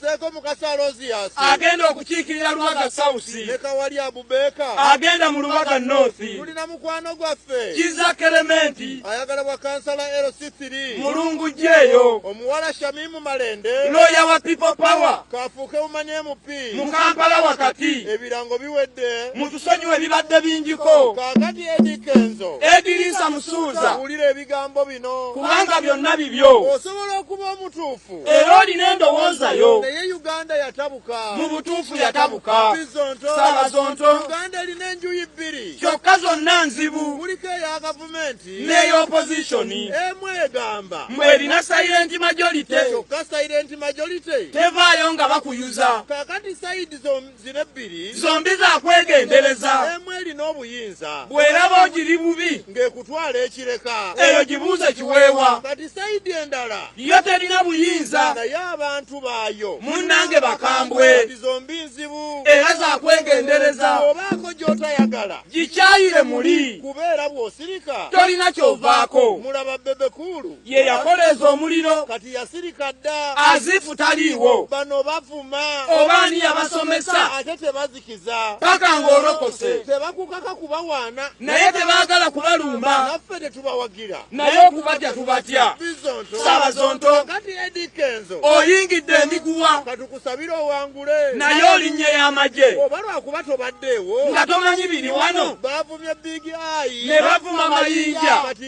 Seeko Mukasa Alozias agenda okukiikirira Lubaga South ne Kawali Abubeeka agenda mu Lubaga North. Tulina mukwano gwaffe Kizza Kerementi ayagala bwa kansala LC3 Mulungu gyeyo. Omuwala Shamimu Malende looya wa People Power kaafuuke umanye MP mu Kampala wakati. Ebirango biwedde mutusonyiwe bibadde bingiko. Kaakati Eddie Kenzo Ediriisa Musuuza wulira ebigambo bino kubanga byonna bibyo. Osobola okuba omutuufu. era olina endowooza yo naye uganda yatabuka mu butuufu yatabuka sala zonto uganda erina enjuyi bbiri kyokka zonna nzibu kuliko eya gavumenti n'eya opozishoni emu egamba mbu erina sayirenti majorite kyokka sayirenti majorite tevaayo nga bakuyuza kakati sayidi zombi zino ebbiri zombi zakwegendereza emu erina obuyinza bweraba ogiri bubi ng'ekutwala ekireka eyo gibuuze kiweewa kati sayidi endala yo terina buyinza naye abantu baayo munnange bakambwe zombi nzibu era zakwegendereza obaako gy'otayagala gikyayire muli kubeera bw'osirika tolina kyovaako mulaba bebekuulu ye yakoleeza omuliro kati yasirika dda azifu taliiwo bano bavuma oba ani yabasomesa ate tebazikiza paka ng'olokose tebakukaka kubawaana naye tebaagala kubalumba naffe tetubawagira naye okubatya tubatya sabazonto kati edikenzo oyingidde emiguwa katukusabira owangule naye olinnye y'amagye oba lwakuba tobaddeewo nga tomanyi biri wano bavumye big ayi ne bavuma mayinja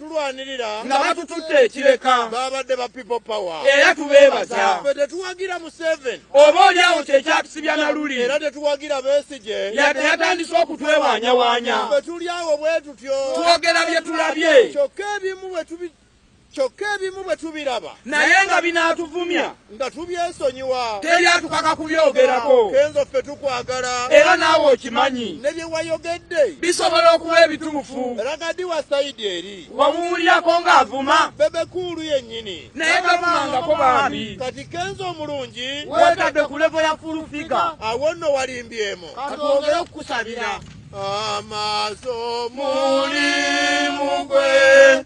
tulwanirira nga batutudde ekireka babadde ba people power era tubeebaza fe tetuwagira museven oba oli awo kyekyatusibya naluli era tetuwagira besigye yadde yatandise okutwewanyawaanya fe tuli awo bwe tutyo twogera bye tulabye kyokka ebimu bwe tubi kyokka ebimu bwe tubiraba naye nga binaatuvumya nga tubyesonyiwa teri atukaka kubyogerako kenzo ffe tukwagala era naawe okimanyi ne bye wayogedde bisobola okuba ebituufu ragadi wa sayidi eri wawuulirako ng'avuma bebekuulu yennyini naye gavumangako bambi kati kenzo omulungi wetadde ku levo ya fulufiga awo nno walimbyemu katwongere okukusabira amaaso mulimu gwe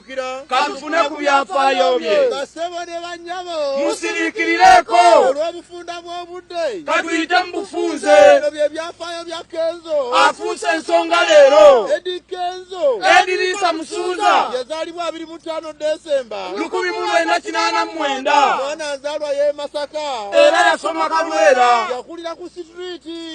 katufune ku byafaayo bye basebo ne banyabo musiriikirireko olw'obufunda bw'obudde katuyite mu bufunze bino bye byafaayo bya kenzo afuuse ensonga leero edi kenzo ediriisa musuuza yazaalibwa abiri mu ttaano desemba lukumi mu lwenda kinaana mu mwenda mwana azaalwa y'e masaka era yasoma kalwera yakulira ku sitriiti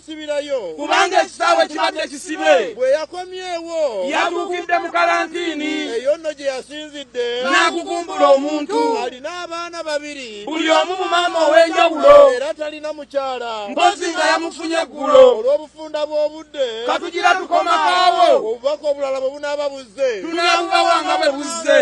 kusibirayo kubanga ekisaawe kibadde kisibe. Bwe yakomyewo yatuukidde mu kalantiini eyo nno gye yasinzidde n'agugumbula omuntu. Alina abaana babiri buli omu mu maama ow'enjawulo era talina mukyala mpozi nga yamufunye eggulo olw'obufunda bw'obudde. Katugira tukomakaawo obubaka obulala bwe bunaaba buzze tunaabubawa nga bwe buzze.